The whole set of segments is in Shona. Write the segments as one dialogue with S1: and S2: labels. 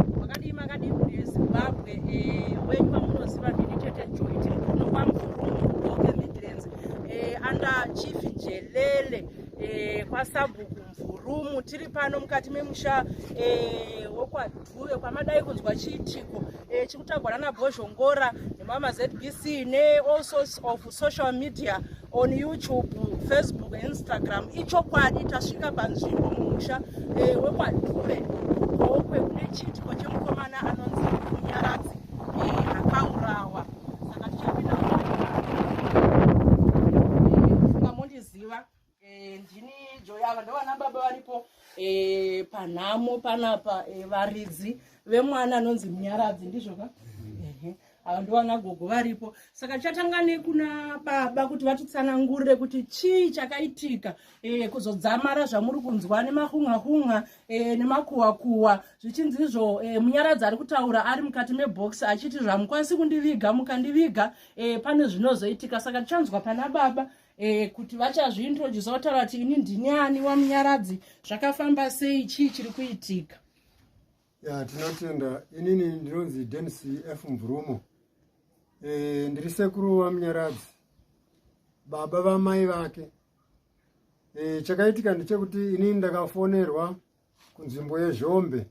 S1: makadii makadii mhuri yezimbabwe eh, wenyu vamunoziva ndini tete joy tiri kuno kwamvuruoke midlands eh, anda chief jelele eh, kwasabhuku mvurumu tiri pano mukati memusha wekwadhuve kwamadai kunzwa chiitiko chikutagwa nana bhozhongora nemama zbc neall sorts of social media on youtube facebook instagram ichokwadi tasvika panzvimbo mumusha eh, wekwadhure gokwe kune chiitiko chemukomana anonzi munyaradzi eh, akaurawa saka tichapinda eh, mundiziva Eh, ndini joyava ndovana baba varipo eh, panhamo panapa eh, varidzi vemwana anonzi munyaradzi ndizvoka ava ndovana gogo varipo saka chatanga nekuna baba kuti vatitsanangurire kuti chii chakaitika kuzodzamara zvamuri kunzwa nemahunhahunha nemakuwakuwa zvichinzi izvo munyaradzi ari kutaura ari mukati mebox achiti zvamukwanisi kundiviga mukandiviga pane zvinozoitika saka tichanzwa pana baba eh, kuti vachazviintrodusa votaura kuti ini ndini ani wamunyaradzi zvakafamba sei chii chiri kuitika ya tinotenda inini ndinonzi denc f mvurumo e, ndiri sekuru wamunyaradzi baba vamai vake e, chakaitika ndechekuti inini ndakafonerwa kunzvimbo yezhombe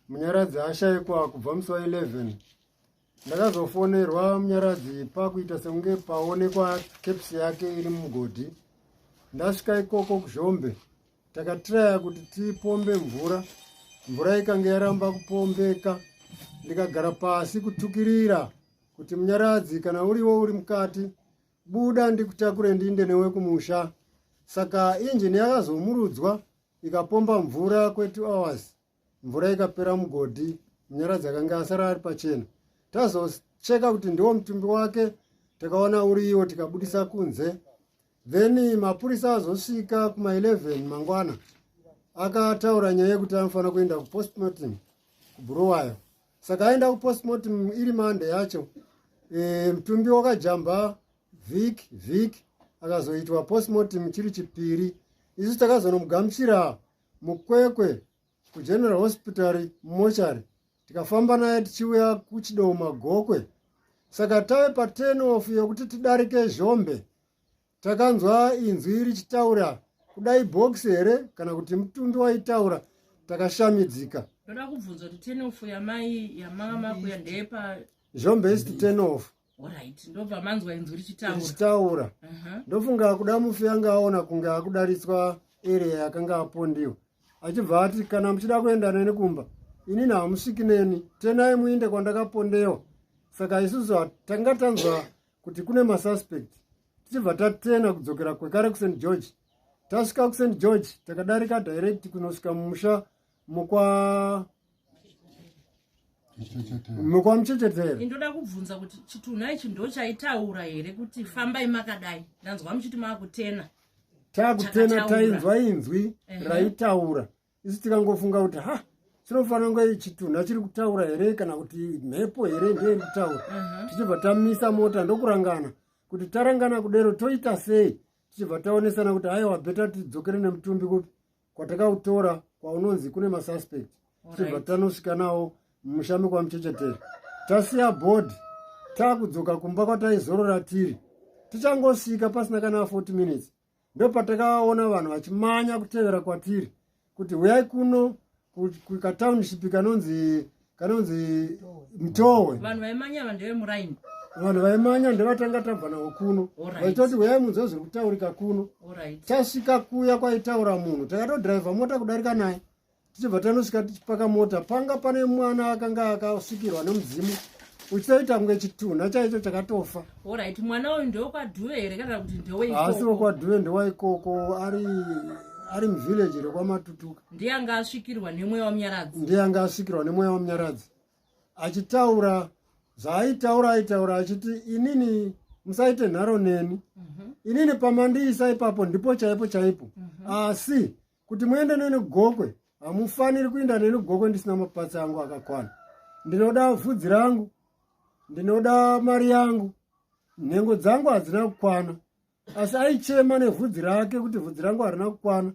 S1: munyaradzi ashaikwa kubva musi wa 11 ndakazofonerwa munyaradzi pakuita sekunge paonekwa caps yake iri mugodhi ndasvika ikoko kuzhombe takatiraya kuti tipombe mvura mvura ikange yaramba kupombeka ndikagara pasi kutukirira kuti munyaradzi kana uriwo uri mukati buda ndikutakure ndinde newe kumusha saka injini yakazomurudzwa ikapomba mvura kwetu hours mvura ikapera mugodhi munyaradzi akange asara ari pachena tazocheka kuti ndiwo mutumbi wake takaona uriiwo tikabudisa kunze then mapurisa azosvika kuma 11 mangwana akataura nyaya yekuti anofanira kuenda kupostmortem kubhuruwayo saka aenda kupostmortem iri mande yacho e, mutumbi wakajamba vik vik akazoitwa postmortem chiri chipiri isu takazonomugamuchira mukwekwe kugeneral hospital mochari tikafamba naye tichiuya kuchidowo magokwe saka tave paten of yokuti tidarike zhombe takanzwa inzwi richitaura kudai bhokisi here kana kuti mutumbi waitaura takashamidzika ndoda kubvunza kuti ten off yamai yamama kuya ndepa zhombe isi ten off mm -hmm. Alright, ndobva manzwa inzwi richitaura. Richitaura. Uh -huh. Ndofunga akuda mufi anga aona kunge akudaritswa area yakanga apondiwa. Achibva ati kana muchida kuenda neni kumba, inini hamusviki neni, tenai muinde kwandakapondewa. Saka isusu tanga tanzwa kuti kune masuspect. Tichibva tatena kudzokera kwekare kuSt George. Tasvika kuSt George takadarika direct kunosvika mumusha mukwa mukamuchechetere indoda kubvunza kuti chitunha ichi ndo chaitaura here kuti fambai makadai ndanzwa muchiti maakutena takutena tainzwa inzwi raitaura isu tikangofunga kuti ha chinofanira kunge chitunha chiri kutaura here kana kuti mhepo here ndeiri kutaura tichibva tamisa mota ndokurangana kuti tarangana kudero toita sei tichibva taonesana kuti aiwa beta tidzokere nemutumbi kupi kwatakautora kwaunonzi kune masuspect tichibva tanosvika nawo mumusha mekwamuchecheteri tasiya bhodhi takudzoka kumba kwataizorora tiri tichangosvika pasina kana 40 minutes ndopatakaona vanhu vachimanya kutevera kwatiri kuti huyai kuno kukatownship kanonzi kanonzi mtowe vanhu vaimanya vanhu ndevemuraini vanhu vaimanya ndevatanga tabva nawo kuno vaitoti huyai munzwa zviri kutaurika kuno tasvika kuya kwaitaura munhu takatodhiraivha mota kudarika naye tichibva tanosvika tichipaka mota panga pane mwana akanga akasvikirwa nemudzimu uchitoita kunge chitunha chaicho chakatofa orit mwana uyu ndewekwadhuve here kana kuti ndeweasi wekwadhuve ndewaikoko ari ari muvillage rekwamatutuka ndiye anga asvikirwa nemweya wamunyaradzi ndiye anga asvikirwa nemweya wamunyaradzi achitaura zvaaitaura aitaura achiti inini musaite nharo neni mhm. inini pamandiisa ipapo ndipo chaipo chaipo mhm. asi kuti muende neni gokwe hamufaniri kuinda neni gokwe ndisina mapatsi angu akakwana ndinoda vhudzi rangu ndinoda mari yangu nhengo dzangu hadzina kukwana asi aichema nevhudzi rake kuti vhudzi rangu harina kukwana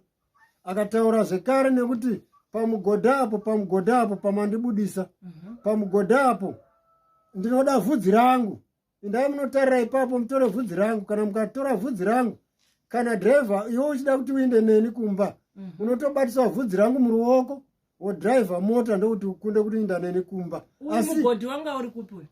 S1: akataura zvekare nekuti pamugodha apo pamugodha apo pamandibudisa mhm. pamugodha apo ndinoda vhudzi rangu indai munotarira ipapo mutore vhudzi rangu kana mukatora vhudzi rangu kana driver iwe uchida kuti uinde neni kumba mhm. unotobatiswa vhudzi rangu muruoko wodriver mota ndokuti ukunde kuti inda neni kumba asi mugodi wanga uri kupi uyu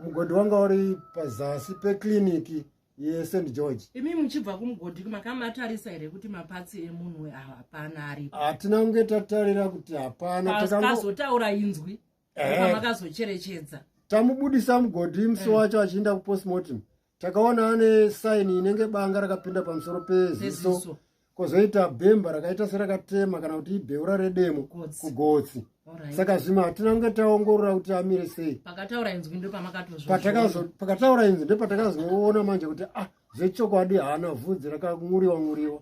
S1: mugodi wanga uri pazasi peclinic yesend george imi muchibva kumugodi makamatarisa here kuti mapatsi emunhu ah, hapana aripo hatina kunge tatarira kuti hapana takazotaura inzwi eh. makazocherechedza tamubudisa mugodi musi eh. wacho achiinda kupostmortem takaona ane saini inenge banga rakapinda pamusoro peziso kozoita bhemba rakaita serakatema kana kuti ibeura redemo kugotsi saka zvimwe hatina kunge taongorora kuti amire sei pakataura inzwi ndopatakazoona manje kuti ah zvechokwadi haana vhudzi rakang'uriwa ng'uriwa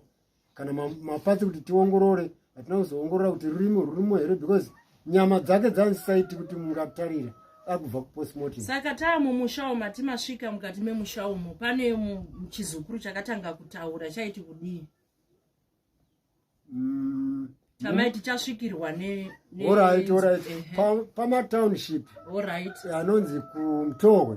S1: kana mapatsi kuti tiongorore hatina kuzoongorora kuti rurimi rurimo here because nyama dzake dzanzisaiti kuti mungatarira akubva kupostmortem saka taamo mushawo mati masvika mukati memushawo mo pane chizukuru chakatanga kutaura chaiti kudii mm, tamai tichasvikirwa neorit orit pamatownship anonzi kumtohwe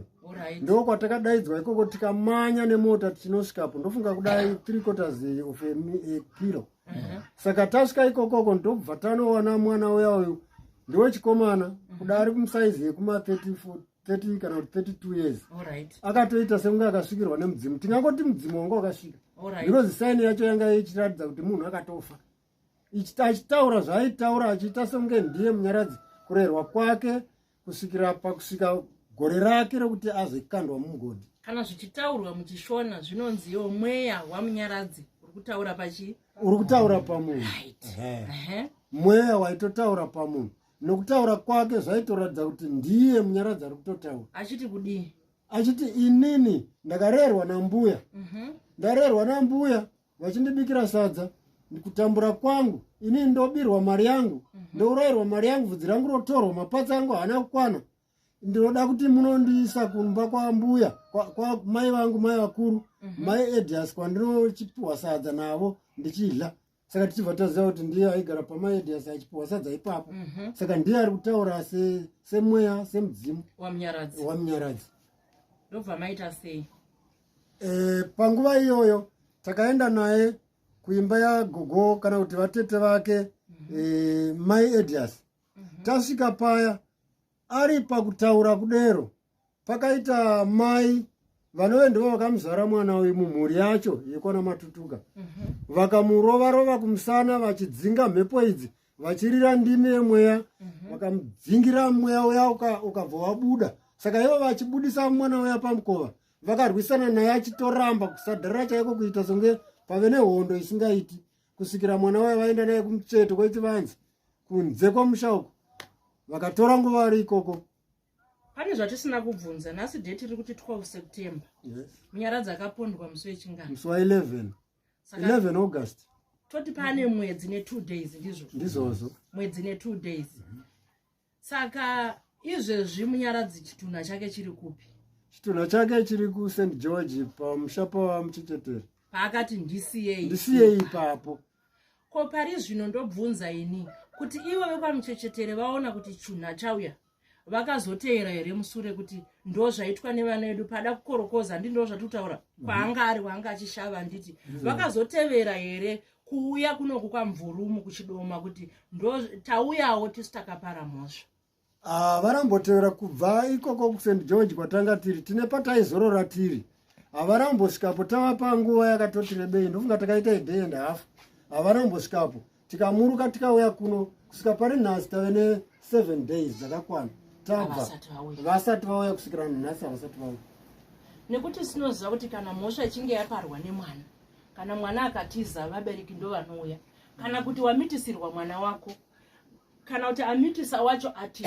S1: ndo kwatakadaidzwa ikoko tikamanya nemota tichinosvikapo ndofunga kudai three quarters of a kilo uh-huh. saka tasvika ikokoko ndobva tanoona mwana uya uyu ndiwe chikomana uh-huh. kuda ari kumusaizi yekuma 30 kana kuti 32 years akatoita sekunge akasvikirwa nemudzimu tingangoti mudzimu wanga wakasvika because saini yacho yanga ichiratidza kuti munhu akatofa ichita achitaura zvaaitaura achiita songe ndiye munyaradzi kurerwa kwake kusvikira pakusvika gore rake rekuti azekandwa mumugodhi kana zvichitaurwa muchishona zvinonzi yo mweya wamunyaradzi uri kutaura pachi uri kutaura pamunhu mweya waitotaura pamunhu nokutaura kwake zvaitoratidza kuti ndiye munyaradzi ari kutotaura achiti kudii achiti inini ndakarerwa nambuya mhm. ndarerwa nambuya vachindibikira sadza kutambura kwangu ini ndobirwa mari yangu mhm. ndourayirwa mari yangu vhudzi rangu rotorwa mapatsi angu haana kukwana ndinoda kuti munondiisa kumba kwambuya kwamai vangu mai vakuru mhm. mai edias kwandinochipiwa sadza navo ndichidla saka tichibva taziva kuti ndiye aigara pamai edias achipiwa sadza ipapo mhm. saka ndiye ari kutaura semweya semudzimu wamunyaradzi ndobva maita sei e, panguva iyoyo takaenda naye kuimba yagogo kana kuti vatete vake mm-hmm. e, mai edias mm-hmm. tasvika paya ari pakutaura kudero pakaita mai vanove ndivo vakamuzvara mwana uyu mumhuri yacho yekwana matutuka mm-hmm. vakamurova rova kumusana vachidzinga mhepo idzi vachirira ndimi yemweya vakamudzingira mweya uya ukabva wabuda saka ivo vachibudisa mwana uya pamukova vakarwisana naye achitoramba kusadhara chaiko kuita songe pave nehondo isingaiti kusvikira mwana waye vaenda naye kumucheto kwechivanzi kunze kwamusha uko vakatora nguva ari ikoko pane zvatisina kubvunza nhasi date iri kuti 12 september munyaradzi akapondwa musi wechingano musi wa 11 11 august toti pane mwedzi ne2 days ndizvo ndizvozvo mwedzi ne2 days mm -hmm. saka izvezvi munyaradzi chitunha chake chiri kupi chitunha chake chiri kust george pamusha pawamuchechetere paakati ndisiyei ndisiyei ipapo ko pari zvino ndobvunza ini kuti ivo vekwamuchechetere vaona kuti chunha chauya vakazoteera here musure kuti ndo zvaitwa nevana vedu pada kukorokoza ndi ndo zvatitaura kwaanga ari waanga achishava anditi mhm. vakazotevera here kuuya kunoku kwamvurumu kuchidoma kuti ndo tauyawo tisu takapara mhosva ah, varambotevera kubva ikoko kusend george kwatanga tiri tine pataizorora tiri havarambosvikapo tava panguva yakatoti rebei ndofunga takaita idei and half havarambosvikapo tikamuruka tikauya kuno kusvika pari nhasi tave neseven days dzakakwana tabva vasati vauya kusvikira nhasi havasati vauya nekuti sinoziva kuti kana mhosva ichinge yaparwa nemwana kana mwana akatiza vabereki ndo vanouya kana kuti wamitisirwa mwana wako kana kuti amitisa wacho ati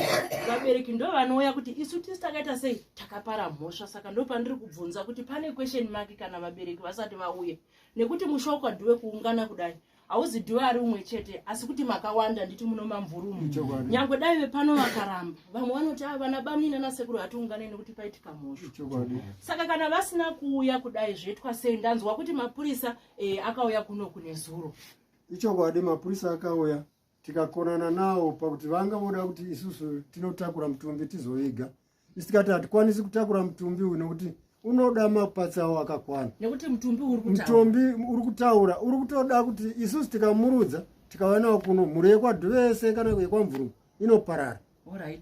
S1: vabereki ndo vanouya kuti isu tisi takaita sei takapara mhosva saka ndo pandiri kubvunza kuti pane question maki kana vabereki vasati vauye nekuti mushoko ndiwe kuungana kudai hauzi dhiwa ari umwe chete asi kuti makawanda nditi muno mamvurumu nyangwe dai vepano vakaramba vamwe vanoti a ah, vana bamnini anasekuru hatiungane nekuti paitika mhosho saka kana vasina kuuya kudai zvoitwa sei ndanzwa kuti mapurisa e, akauya kuno kune zuro ichokwadi mapurisa akauya tikakonana nawo pakuti vanga voda kuti isusu tinotakura mutumbi tizoviga isikati hatikwanisi kutakura mutumbi uyu nekuti unoda mapatsi awo akakwana nekuti mutumbi uri mutumbi uri kutaura uri kutoda kuti isusu tikamurudza tikavanawo kuno mhuri yekwadhuve yese kana yekwamvuru inoparara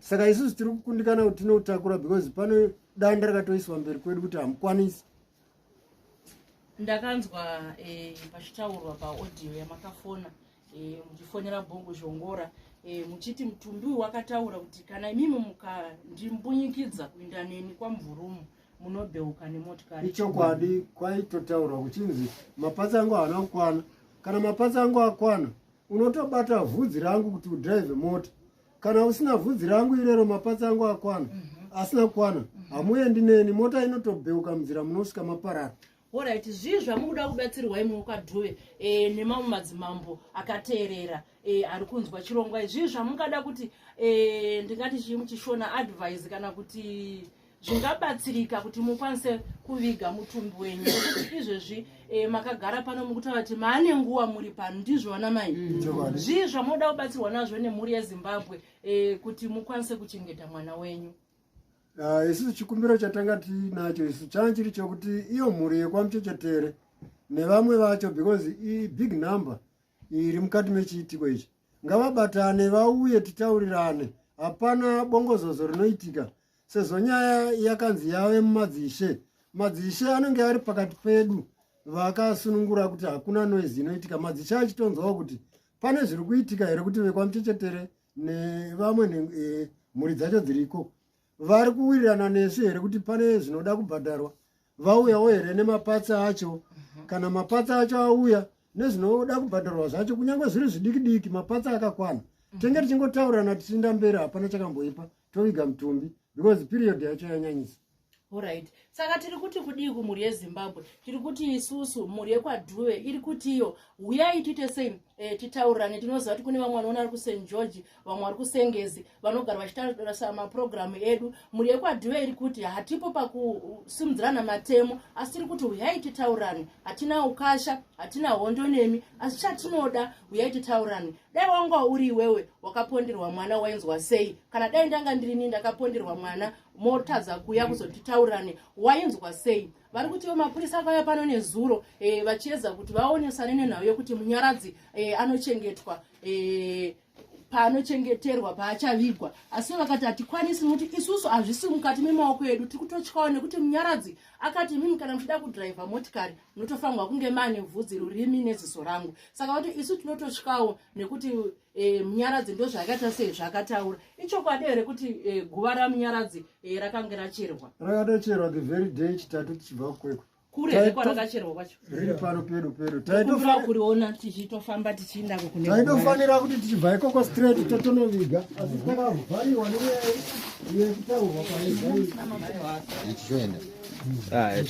S1: saka isusu tiri kukundikana kuti tinoutakura because pane danda rakatoiswa mberi kwedu kuti hamukwanisi ndakanzwa eh, pachitaurwa paaudio yamakafona eh, muchifonera bongo zhongora eh, muchiti mutumbi uyu wakataura kuti kana imimi mukandimbunyikidza kuinda neni kwamvurumu munobheuka nemotikari ichokwadi kwaitotaurwa kuchinzi mapatsi angu haana kukwana kana mapatsi angu akwana unotobata vhudzi rangu kuti udrive mota kana usina vhudzi rangu irero mapatsi angu akwana mm -hmm. asina kukwana mm -hmm. hamuendi neni mota inotobheuka munzira munosvika maparara orit zvii zvamukuda kubatsirwa imwe kwadhuve e, eh, nemamwe madzimambo akateerera e, ari kunzwa chirongwa izvii zvamungada kuti e, ndingati chii muchishona advise kana kuti zvingabatsirika kuti mukwanise kuviga mutumbi wenyu nekuti izvezvi e, makagara pano mukuta vati maane nguva muri pano ndizvo vana mai mm. zvii zvamoda kubatsirwa nazvo nemhuri yezimbabwe e, kuti mukwanise kuchengeta mwana wenyu ah, isu uh, chikumbiro chatanga tiinacho isu changa chiri chokuti iyo mhuri yekwamuchechetere nevamwe vacho because ibig number iri mukati mechiitiko ichi ngavabatane vauye titaurirane hapana bongozozo rinoitika sezvo nyaya yakanzi yave mumadzishe madzishe anenge ari pakati pedu vakasunungura kuti hakuna noizi inoitika madzishe achitonzwawo kuti pane zviri kuitika here kuti vekwamuchechetere nevamwe e, mhuri dzacho dziriko vari kuwirirana nesu here kuti pane zvinoda kubhadharwa vauyawo here nemapatsi acho mhm. kana mapatsi acho auya nezvinoda kubhadharwa zvacho kunyange zviri zvidiki diki mapatsi akakwana mhm. tenge tichingotaurirana tichiinda mberi hapana chakamboipa toviga mutumbi because period yacho yanyanyisa orit saka tiri kuti kudii kumhuri yezimbabwe tiri kuti isusu mhuri yekwadhuve iri kuti iyo huyai tiite sei e, titaurirane tinoziva kuti kune vamwe vanoona ari kusen george vamwe vari kusengezi vanogara vachitarisa mapurogiramu edu mhuri yekwadhive iri kuti hatipo pakusimudzirana matemo asi tiri kuti huyai titaurane hatina ukasha hatina hondo nemi asi chatinoda huyai titaurane dai wanga uri iwewe wakaponderwa mwana wainzwa sei kana dai ndanga ndirini ndakaponderwa mwana motadza kuya kuzotitaurane wainzwa sei vari kutiwo mapurisa akauya pano nezuro e, vachiedza kuti vaonesane nenhau yekuti munyaradzi e, anochengetwa e, paanochengeterwa paachavigwa asi vakati hatikwanisi nokuti isusu hazvisi mukati memaoko edu tiri kutotyawo nekuti munyaradzi akati mimi kana muchida kudhiraivha motikari munotofanirwa kunge maane vhudzi rurimi neziso rangu saka vati isu tinototyawo nekuti e, munyaradzi ndozvaakaita sei zvaakataura ichokwadi here kuti e, guva ramunyaradzi e, rakange racherwa rakatocherwa the very day chitatu tichibva kwekwe kure kwarakacherwa kwacho riri pano pedu pedu taitofanira kuriona tichitofamba tichiinda kukune taitofanira kuti tichibva ikoko straight totonoviga asi takavhariwa neyekutaurwa kwaechichoenda ah,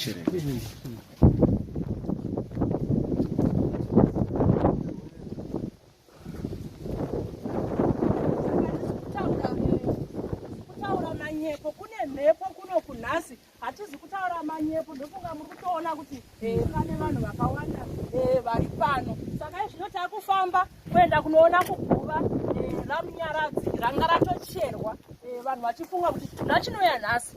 S1: manyepo kune mhepo kuno kunhasi hatizi kutaura manyepo ndofunga muri kutoona kuti eh, pane vanhu vakawanda eh, vari pano saka izvino takufamba kuenda kunoona kuguva eh, ramunyaradzi ranga ratocherwa vanhu vachifunga kuti chitunda chinouya nhasi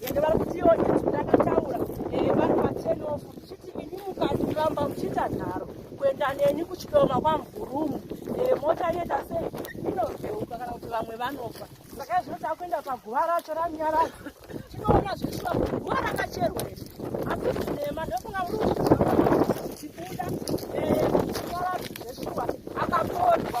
S1: ende vari kutiwo izvi ndakataura eh, vari patenofu ndichiti ini mukati kuramba muchiita nharo kuenda neni kuchidoma kwamvurumu eh, mota inoita sei inozeuka kana kuti vamwe vanofa saka izvino takuenda paguva racho ranyarazi tinoona zvichiva kuti guva rakacherwa iri asi zvinema ndokunga muri kuchibuda eh, nyarazi zveshuwa akapondwa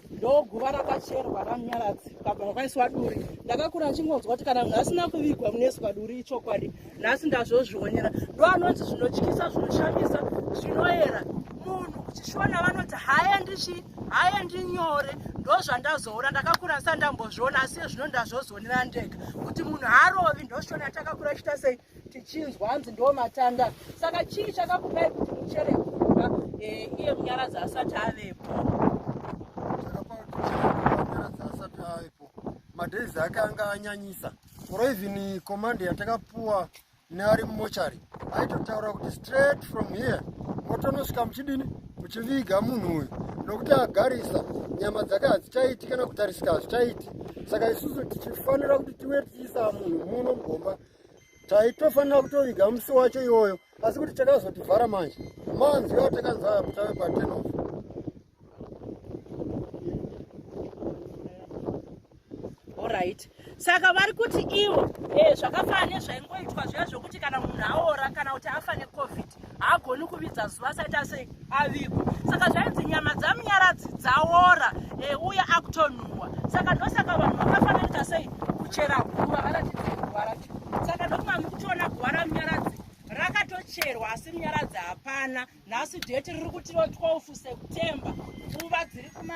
S1: ndoguva rakacherwa ramunyaradzi kabva makaiswa duri ndakakura achingonzwa kuti kana munhu asina kuvigwa munoiswa duri ichokwadi nhasi ndazvozvionera ndo anonzi zvinotyisa zvinoshamisa zvinoera munhu kuchishona vanoti haendi chi haendi nyore ndo zvandazoona ndakakura ndisati ndambozviona asi ezvino ndazvozvionera ndega kuti munhu haarovi ndoshona takakura ichita sei tichinzwa hanzi ndo matanda saka chii chakakupai kuti muchere kumba eh, iye munyaradzi asati avepo madays ake anga anyanyisa or even command yatakapuwa neari mumochari aitotaura kuti straight from here motonosvika muchidini muchiviga munhu uyu nokuti agarisa nyama dzake hadzichaiti kana kutarisika hazvichaiti saka isusu tichifanira kuti tiwe tichiisa munhu muno mugomba taitofanira kutoviga musi wacho iwoyo asi kuti takazotivhara manje manzwi ao takanzwaya kuti ave patenof orit saka vari kuti ivo e eh, zvakafana nezvaingoitwa zviya zvokuti kana munhu aora kana kuti afa necovid kuti haagoni kuvidza zuva asati ase avigwa saka zvainzi nyama dzamunyaradzi dzaora e, uye akutonhuwa saka ndosaka vanhu vakafananita sei kuchera guva varatidze guva racho saka ndokuma mukutiona guva ramunyaradzi rakatocherwa asi munyaradzi hapana nhasi dheti riri kutiro 12 september nguva dziri kuma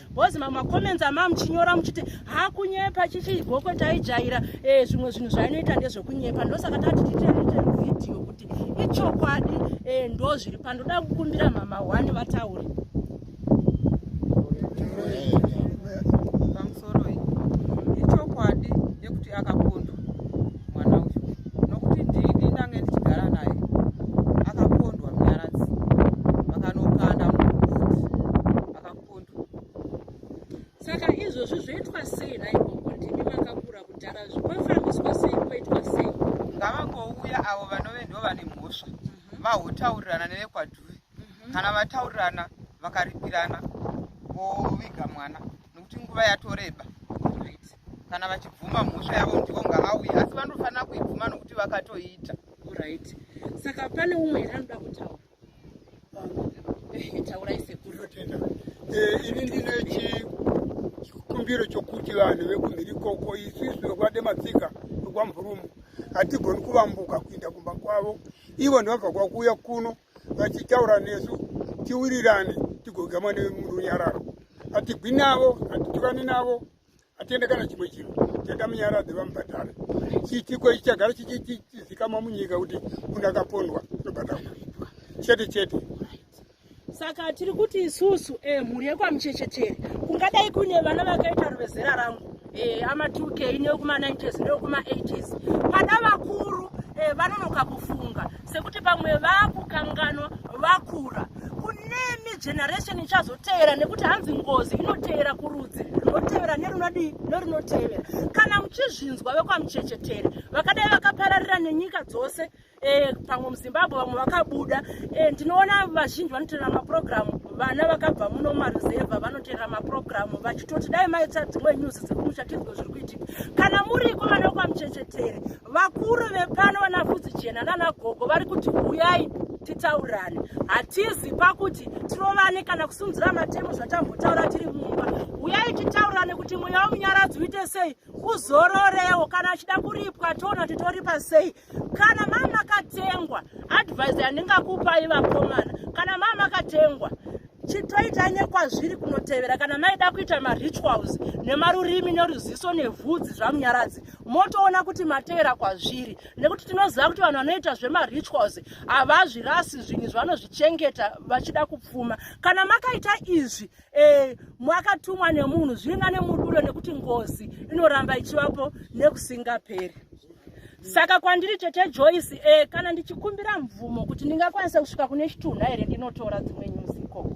S1: bhozi mamwe macomments amaa muchinyora muchiti hakunyepa chichi gokwe taijaira eh, zvimwe zvinhu zvainoita ndezvekunyepa ndosaka tati titeite vhidhiyo kuti ichokwadi eh, ndo zviri pandoda kukumbira mama one vataure makondo saka izvozvi zvoitwa sei naigogo ndimi makakura kudhara zvinofambiswa sei koitwa sei ngavangouya avo vanove ndo vane mhosva mhm. vahotaurirana nevekwadhuve mhm. kana vataurirana vakaripirana voviga mwana nokuti nguva yatoreba kana vachibvuma mhosva yavo ndivo ngaauye asi vanofanira kuibvuma nokuti vakatoiita right saka pane umwe here anoda kutaura Eh, ini ndine chikumbiro chokuti vanhu vekumhiri koko isusu vekwade matsika vekwamvurumu hatigoni kuvambuka kuinda kumba kwavo ivo ndivabva kwakuuya kuno vachitaura nesu tiwirirane tigogamwa nemurunyararo hatigwi navo hatitukani navo atiende kana chimwe chinhu tenda munyaradzi vamubhadhare chiitiko ichi chagara chichizikamwa munyika kuti munhu akapondwa unobhadharwa chete chete saka tiri kuti isusu eh, mhuri yekwamuchechetere kungadai kune vana vakaita ruvezera rangu eh, ama 2 k newekuma 9 ks newekuma 8 ks pada vakuru eh, vanonoka kufunga sekuti pamwe vakukanganwa vakura kunemi generation ichazoteera nekuti hanzi ngozi inoteera kurudzi rinoteera nerunodii nerunotevera kana muchizvinzwa vekwamuchechetere vakadai vakapararira nenyika dzose e, pamwe muzimbabwe vamwe vakabuda e, ndinoona vazhinji vanoteerera mapurogiramu vana vakabva muno maruzevha vanoteerera mapurogiramu vachitoti dai maita dzimwe nyuzi dzekumushatirwo zviri kuitika kana muriko vana vekwamuchechetere vakuru vepano vanafudzi jena nanagogo vari kuti huyai titaurane hatizi pakuti tirovane kana kusunzira matemo zvatambotaura tiri mumba uyai titaurane kuti mweya womunyaradzi uite sei uzororewo kana achida kuripwa toona kuti toripa sei kana maa makatengwa advise yandingakupai vakomana kana maa makatengwa chitoita nyekwazviri kunotevera kana maida kuita marituals nemarurimi neruziso nevhudzi zvamunyaradzi motoona kuti matevera kwazviri nekuti tinoziva kuti vanhu vanoita zvemarituals havazvirasi zvinhu zvavanozvichengeta vachida kupfuma kana makaita izvi e, mwakatumwa nemunhu zviringa nemuduro nekuti ngozi inoramba ichivapo nekusingaperi saka kwandiri tete joyce e, kana ndichikumbira mvumo kuti ndingakwanisa kusvika kune chitunha here ndinotora dzimwe nyuzi ikoko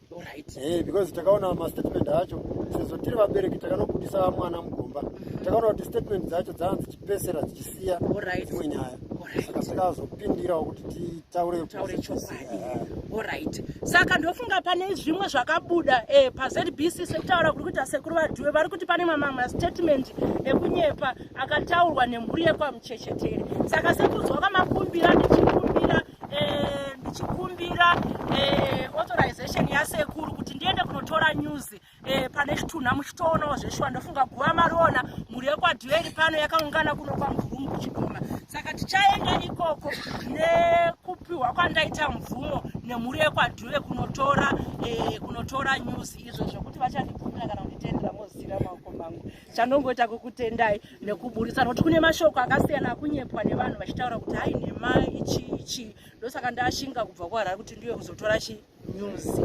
S1: Alright. Eh, because takaona mastatement acho sezvo tiri vabereki takanobudisa mwana mugomba takaona kuti statement dzacho dzanga dzichipesera dzichisiya Alright. dzimwe nyaya Alright. saka takazopindirawo kuti titaure taure chokwadi Eh, orit saka ndofunga pane zvimwe zvakabuda eh, pazbc sekutaura kuri kuita sekuru vadhuwe vari kuti pane mamwe mastatement ekunyepa akataurwa nemhuri yekwamuchechetere saka sekunzwa kwamakumbira ndichikumbira eh, ndichikumbira eh, authorization yasekuru kuti ndiende kunotora news eh, pane chitunha muchitoonawo zveshuwa ndofunga guva mariona mhuri yekwadhueri pano yakaungana kuno kwamvurumu kuchidoma saka tichaenda ikoko nekupiwa kwandaita mvumo nemhuri yekwadhuve kunotora eh, kunotora news izvo zvekuti vachandibvumira kana kunditendera mozira maoko mangu chandongoita kukutendai nekuburitsa nokuti kune mashoko akasiyana akunyepwa nevanhu vachitaura kuti hai nhema ichi ichi ndosaka ndashinga kubva kuharari kuti ndiwe kuzotora chi news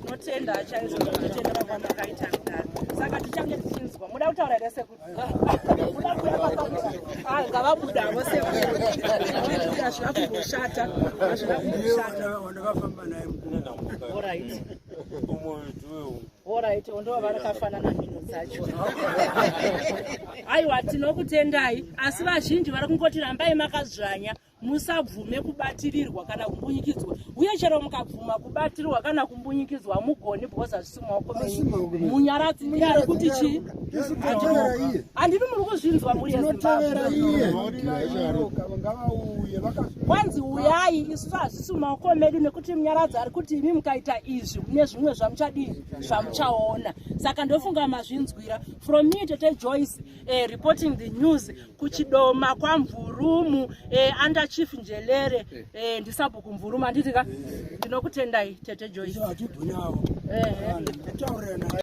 S1: tinotenda chaizvo zvatotendera kwandakaita kudaro saka tichange tichinzwa muda kutaura here sekuru muda kuyaa ngavabuda avo sekuazvina kumboshata azvina kumboshata wandakafamba naye orit Alright, ndivo vakafanana mhino dzacho. Aiwa tinokutendai asi vazhinji vari kungoti rambai makazvanya musabvume kubatirirwa kana kumbunyikidzwa uye chero mukabvuma kubatirirwa kana kumbunyikidzwa mugoni because hazvisi maoko menyu munyaradzi ndiye ari kuti chii handini muri kuzvinzwa muri yezimbabwe kwanzi uyai isu isu maoko medu nekuti munyaradzi ari kuti imi mukaita izvi mune zvimwe zvamuchadii zvamuchaona saka ndofunga mazvinzwira from me tete joyce eh, reporting the news kuchidoma kwamvurumu eh, under chief njelere eh, ndisabhuku mvurumu anditi ka ndinokutendai tete joyce eh, eh.